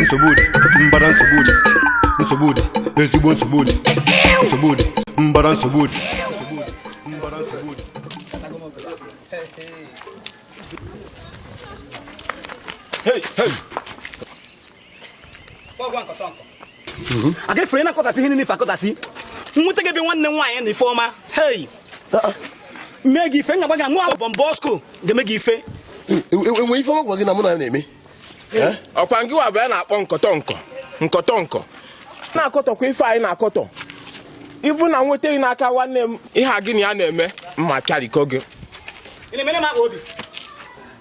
nsogbu dị mbara nsogbu dị nsogbu dị ezigbo nsogbu dị nsogbu dị mbara nsogbu dị nsogbu dị mbara nsogbu dị Mhm. a ga-efere ihe niile ife akọtasị nweta gị ebe nwanne m nwaanyị na Ifeọma hei uh-uh. mee gị ife ngagba gị anụ ahụ bọmbọ ọskụ ga-eme gị ife o nwe ife ọ gwa gị na mụ na na-eme eh? ọ kwa ngị wa bụ ya na-akpọ nkọtọ nkọ nkọtọ nkọ na-akọtọkwa ife anyị na-akọtọ ibu na nweta gị n'aka nwanne m ihe a gị na ya na-eme mma karịkọ gị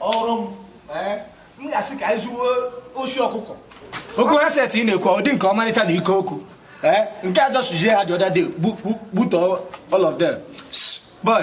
ọrụ m eh, m ga-asị ka anyị zuwe oshi ọkụkọ okwu handset ị na-ekwu ọ dị nke ọmarịcha na ike okwu eh, nke a jọsuzie ha the other day gbutọ all of them boy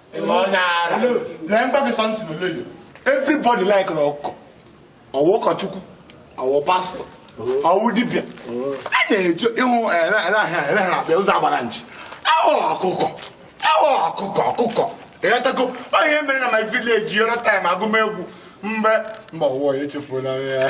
lee mgba gị sọntị na oleyo everybody like na ọkọ ọwụ ụkọchukwu ọwụ pastor ọwụ dibịa a na-eje ịhụ eleghara akpa ụzọ agbara nchi ahụrụ ọkụkọ ahụrụ ọkụkọ ọkụkọ ịghọtago onye mere na my village yọrọ time agụmegwu mgbe mgbe ọwụwa ya echefuola ya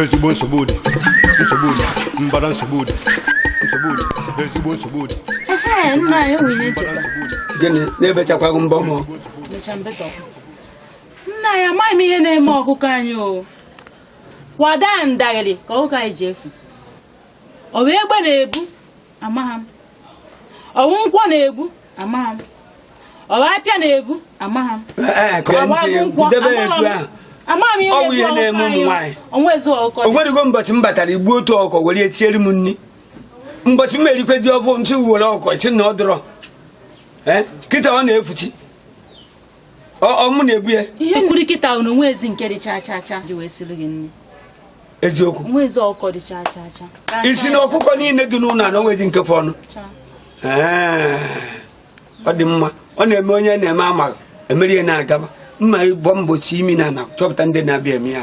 ezigbo nsogbu dị nsogbu dị mbara nsogbu dị nsogbu dị ezigbo nsogbu dị nna anyị nwunye mbara ncheta nsogbu dị gịnị na-ebechakwaghị mbọ mụ mecha mbetọ nna anyị amaghị m ihe na-eme ọkụkọ anyị o kwa daa ndagịrị ka ọkụkọ anyị ji efu ọwụ egbe na-ebu amaghị m ọwụ nkwọ na-ebu amaghị m ọwụ apịa na-ebu amaghị m Ee, ee, ka agụ ntị, debe ya etu ahụ. Ọ bụ ihe na-eme ụmụ nwaanyị. Ọnwa ezu ọkụkọ o nwerego mbọchị m batara i gbu otu ọkọ were ya tiere m nri mbọchị m erikwezi ofe e ji were ọkọ si na ọ dịrọ Eh, kịta ọ na-efuchi Ọ- ọ mụ na-ebu ya ihe kwuru kịta na o nwezi nke dị cha cha cha ji wee siri gị nri eziokwu ị sị na ọkụkọ niile dị n'ụlọ a na o nwezi nke fọnụ ọ dị mma ọ na-eme onye na-eme amaghị emeri ya na-agaba mma abụ m osi imi na nchọpụta ndị na-abịa eme ya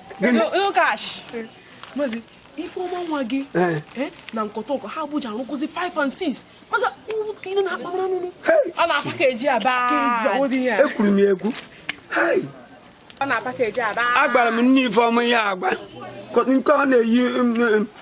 ifeọma nwa gị eh. Eh, na nkọtọ nkọ ha bụja arụkụzi 5 and 6 mazi unu na akpamara nụnụ ọ na-package aba ekwuru m ya ekwu ọ na-package aba agwara m nne ifeọma ihe agba nke ọ na-eyi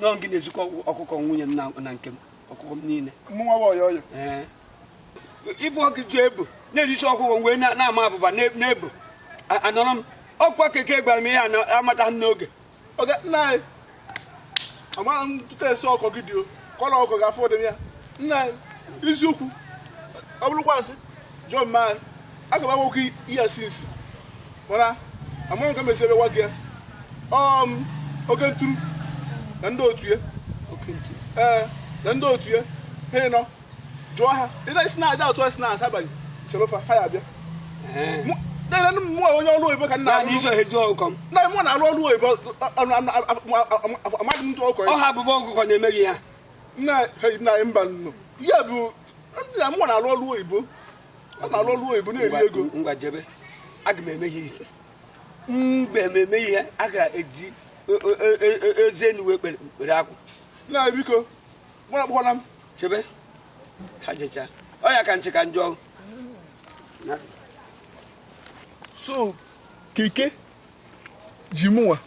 n'ọ gị na-ezikọ ọkụkọ nwunye m na- na nke m ọkụkọ m niile mụ nwa ọyọ ọyọ ee ife Oke ji ebu na-ezisi ọkụkọ wee na- na-ama abụba na- na-ebu A- anọrọ m ọkwa keke gwara m ihe a na- amataghị m n'oge oge nna anyị amaghị m tụta esi ọkọ gị dị o kọrọ ọkọ gị afọ dị ya nna anyị eziokwu ọ bụrụkwa asị John ma aga m agwakwa ihe sinsi mana amaghị ka m esi wee gwa gị ya ọm oke ntu na ndị otu ya ee na ndị otu ya ha ịnọ jụọ ha ị na-esi na-ada otu esi na-asa abalị chebefa ha ya abịa mụ onye ọrụ oyibo ka nna na iso eji ọkụkọ m na mụ na-arụ ọrụ oyibo amaghị m ntụ ọkọ ọ ha abụbọ ọkụkọ na-emeghị ya nna na mba nnụ ya bụ nna mụnwa na-alụ ọrụ oyibo ọ na-alụ ọrụ oyibo na-eri ego ngwa jebe aga m eme ihe ife mgbe m eme ihe a ga-eji eze enu wee kpere akwụ nna biko gbara kpọkwara m jebe ha jecha ọ ya ka nchị ka njọ so keke ji mụnwa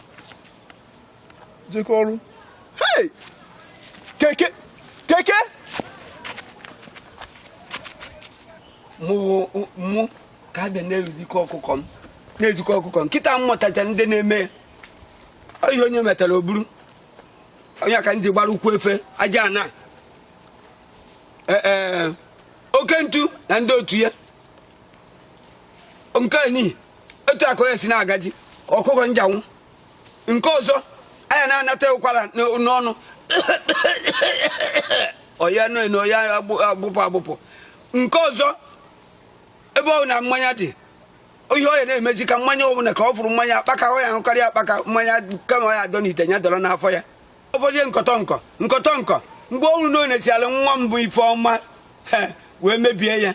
jekọ ọrụ hei keke keke mụ mụ ka a bịa na-ezikọ ọkụkọ m na-ezikọ ọkụkọ m kịta m matacha ndị na-eme ya ihe onye metara o buru onye ka ndị gbara ụkwụ efe aja ana ee oke ntu na ndị otu ya nke ni etu ụkwụ ya si na-aga dị ka ọkụkọ njanwụ nke ọzọ anya na-anata ụkwara n'ọnụ ọ ya nọ na ọ ya agbụpụ agbụpụ nke ọzọ ebe ọbụna mmanya dị ihe ọ ya na-emezi ka mmanya ọbụla ka ọ fụrụ mmanya akpaka ọ ya ahụkarị akpaka mmanya kama ọ ya adọ n'ite ya dọrọ n'afọ ya ụfọdụ nkọtọ nkọ nkọtọ nkọ mgbe ọ hụrụ na ọ na-esi ala nwa m bụ Ifeọma wee mebie ya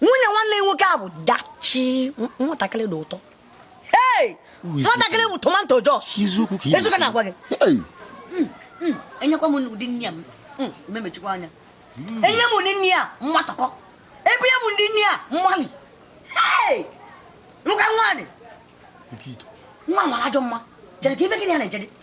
nwunye nwanne nwoke a bụ Dachi nwatakịrị dị ụtọ nwatakịrị bụ tomato Jos ezuka na-agwa gị hmm, hmm, enyekwa m ụdị nne ya hmm, memechikwa anya enye m ụdị nne ya mmatọkọ ebunye m ụdị nne ya mmali nwoke nwaanyị nwa mara ajọ mma jere ka ife gịnị ya na-ejede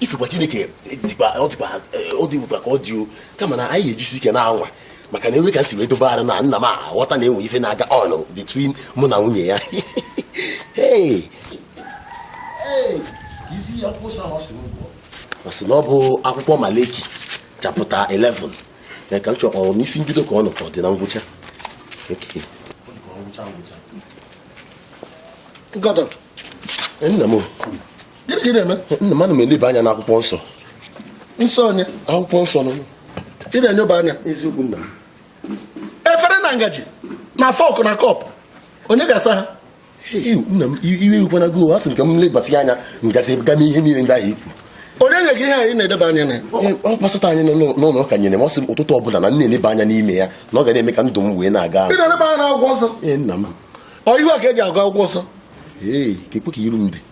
ifekwa Chineke ọdịbụkwa ka ọ dị o kama na anyị ga-ejisi ike na-anwa maka na enwe ka e si wee dobe arụ na nna m aghọta na enwe ife na-aga on between mụ na nwunye ya ọ sị na ọ bụ akwụkwọ Malachi chapter 11 na ka m chọrọ ọ n'isi mbido ka ọ nọ ka ọ dị na ngwụcha nna m gịnị ka ị na-eme nna m ana m eleba anya n'akwụkwọ nsọ nsọ onye akwụkwọ nsọ nọ ị na-enyoba anya eziokwu nna m efere na ngaji na fork na cup onye ga-asa ha nna m iwe ewekwana gị a sị m ka m lebasị anya m gazie gaa mee ihe niile ndị ahụ i kwu onye nye gị ihe a ị na-eleba anya na ọ pastor anyị n'ụlọ ụka nyere m ọ sị m ụtụtụ ọbụla na m na-eleba anya n'ime ya na ọ ga na-eme ka ndụ m wee na-aga ị na-eleba anya n'akwụkwọ nsọ ee nna m ọ ihu a ka e ji agụ akwụkwọ nsọ ee keekwa ka iru m dị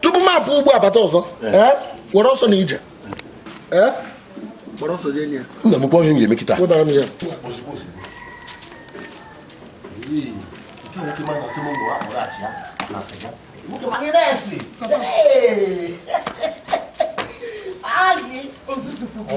tupu m apụ ugbu a bata ọzọ ee, were ọsọ na ije Ee, were ọsọ jee nye ya. nna m kwa ihe m ga-eme kịta Wetara m ya. Agị ozuzu kwuru.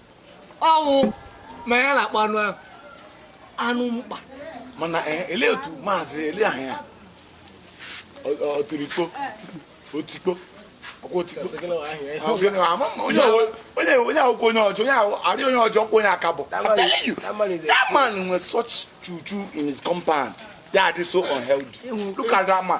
ọ wụ ma ya na-akpọ anụ ahụ anụ mkpa mana eh, ele otu maazị ele ahụ ya ọtụrụikpo otikpo onye akwụkwọ onye ọjọọ onye arị onye ọjọọ kwa onye aka bụ that man nwere such chuchu in his compound ya adị so unhealthy look at that man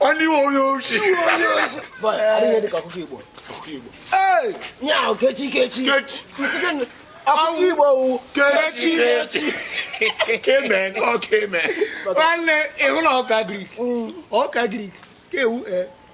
onye onye ochi ihe dịka ọkụkọ igbo ihe ahụ kechi kechi ọkụkọ igbo wu kechi kechi keme ọ keme nwanne ị hụ na ọkụkọ agric ọkụkọ agric ka ewu ee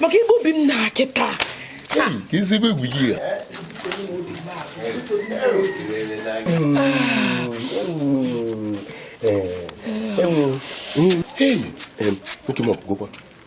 maka igbu obi m na kịta ezigbo egwu gị ya enwe nwoke m ọ pụgokwa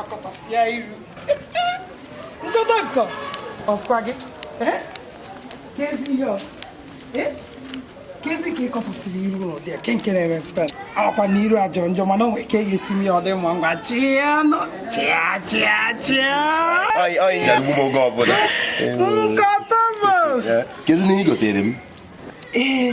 akọtasịa iru nkọta nkọ ọ sịkwa gị kezi ihe ọ kezi ka ị kọtasịrị iru n'ụdị ke nke na-eme spen ọ kwa na iru a jọ njọ mana o nwe ka e ga-esi mee ya ọ dị mma ngwa chịa nọ chịa chịa chịa nkọta bụ kezi na ị gotere m ee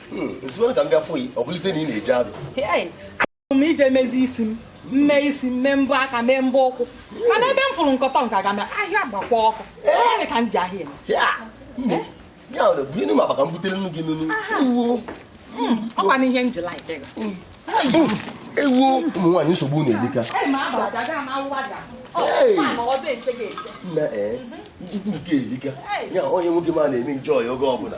Hmm, ezigbo ka m bịa fụ yi ọ bụlizie na ị na-eje ahịa achọrọ m ije mezi isi m mee isi mee mbọ aka mee mbọ ụkwụ mana ebe m fụrụ nkọtọ nke aga m ahịa gbakwa ọkụ ebe ka m ji ahịa eme ya ọ bụ nne m abaka m butere nnu gị nunu hmm, ọ kwa na ihe m ji like hmm. ewu ụmụ nwaanyị nsogbu na-adịka nne ee ukwu nke erika ya onye nwoke ma na-eme njọ ya oge ọbụla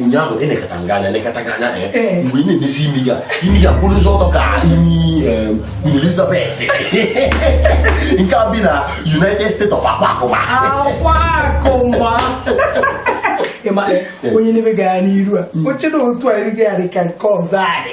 ụnyaahụ elekata m gị anya elekata gị anya mgbe ị na-emezi imi gị a imi gị a kwụrụ ụzọ ọtọ ka imi Queen Elizabeth nke a bi na United States of Akwakụma Akwakụma ịma onye na-ele gị anya n'iru a o chee na otu a iru gị a dị ka nke ọzọ anyị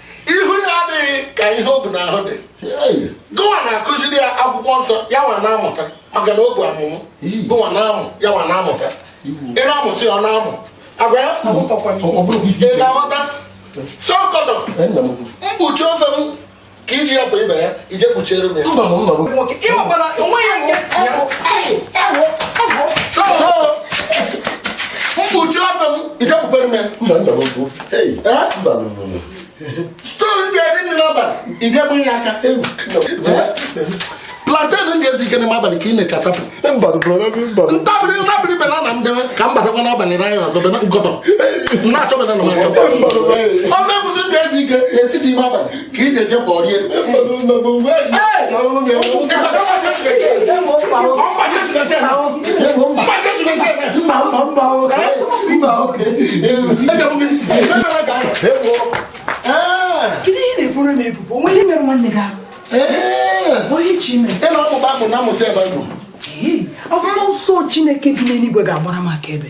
ihu ya adịghị ka ihe o bu n'ahụ dị gụwa na-akụziri ya akwụkwọ nsọ ya nwa na-amụta maka na ọ bụ amụmụ gụwa na-amụ ya nwa na-amụta ị na-amụsị ọ na-amụ agwa ya ị na-aghọta sọkọtọ mkpuchi ofe m ka iji ya bụ ibe ya i jee kpuchiere m ya mkpuchi ofe m i jee kpukwere m ya store m ga-eri nri n'abalị i jee buo ya aka plantain m ji ezi ike n'ime abalị ka ị na-eje atapụ ntabiri ntabiri banana m dewe ka m batakwa n'abalị na anyị ọzọ bena nkọtọ na-achọ banana m achọ ofe egusi m ji ezi ike n'etiti ime abalị ka i je je buo rie akwụkwọ nsọ Chineke bi n'eluigwe ga-agbara m akaebe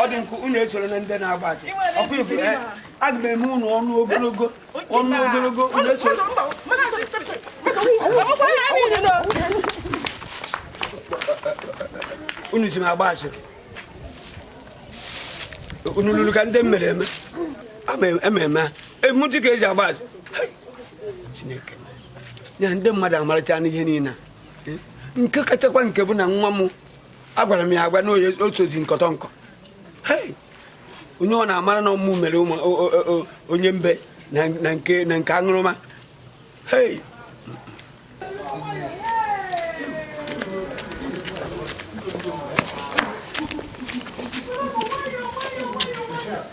ọ dị nkụ unu echọrọ na ndị na-agba aja ọkụ ifu aga m eme unu ọnụ ogologo ọnụ ogologo unu echọrọ unu ji m agba asịrị unu lụrụ ka ndị m mere eme ememe ememe a emuti ka eji agba asịrị Chineke ya ndị mmadụ amarachana ihe niile nke kachakwa nke bụ na nwa m agwara m ya agwa na otu dị nkọtọ nkọ onye ọ na-amara na ọ mụ mere onye mbe na nke aṅụrụma hei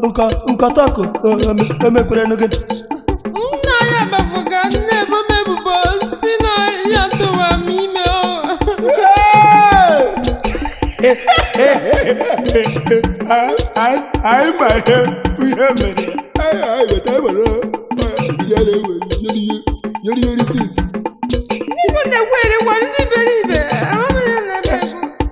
nkọ nkọtọkụ emekwerenu gị nna ya emebuga na-ebo m ebubo si na ya tụwa m ime o anyị ma ihe ihe mere ndị na-ekwe erekwa ndị iberibe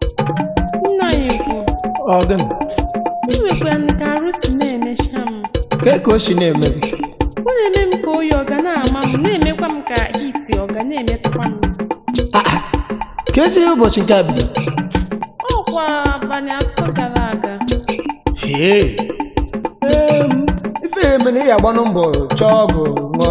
nna anyị ukwu ọ gịnị enwekwa m ka arụ si na-emecha m kee ka o si na-eme gị ọ na-eme m ka oyi ọ ga na-ama m na-emekwa m ka heat ọ ga na-emetụkwa m keezi ụbọchị nke a bido ọkwa abalị atọ gara aga Ee, em, ife ya-eme na ị ya-agbanụ mbọ chọọ ọgwụ ṅụọ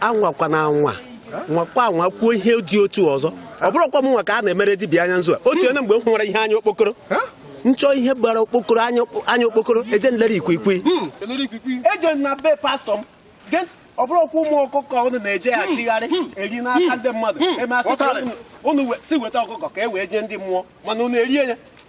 anwakwana anwa nwakwa anwa kwuo ihe dị otu ọzọ ọ bụrọkwa mụ nwa ka a na-emere dibịa anya nzu a o teene mgbe m hụwara ihe anya okpokoro nchọ ihe gbara okpokoro anya okpo- anya okpokoro eje nlere ikwikwi eje na be pastọ m Gee ntị, ọ bụrụkwa ụmụ ọkụkọ unu na-eje achịgharị eri n'aka ndị mmadụ eme asị ka unu- unu we- sị weta ọkụkọ ka e wee nye ndị mmụọ mana unu erie ya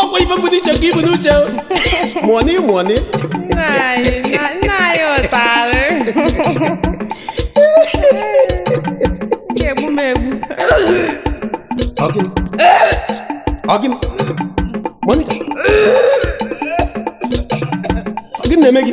ọkwa ife m bu n'uche ka i bu n'uche Moni Moni nna anyị na- nna anyị ụtarị ga-egbu m egbu ọ gịnị ọ gịnị Moni ọ gịnị na-eme gị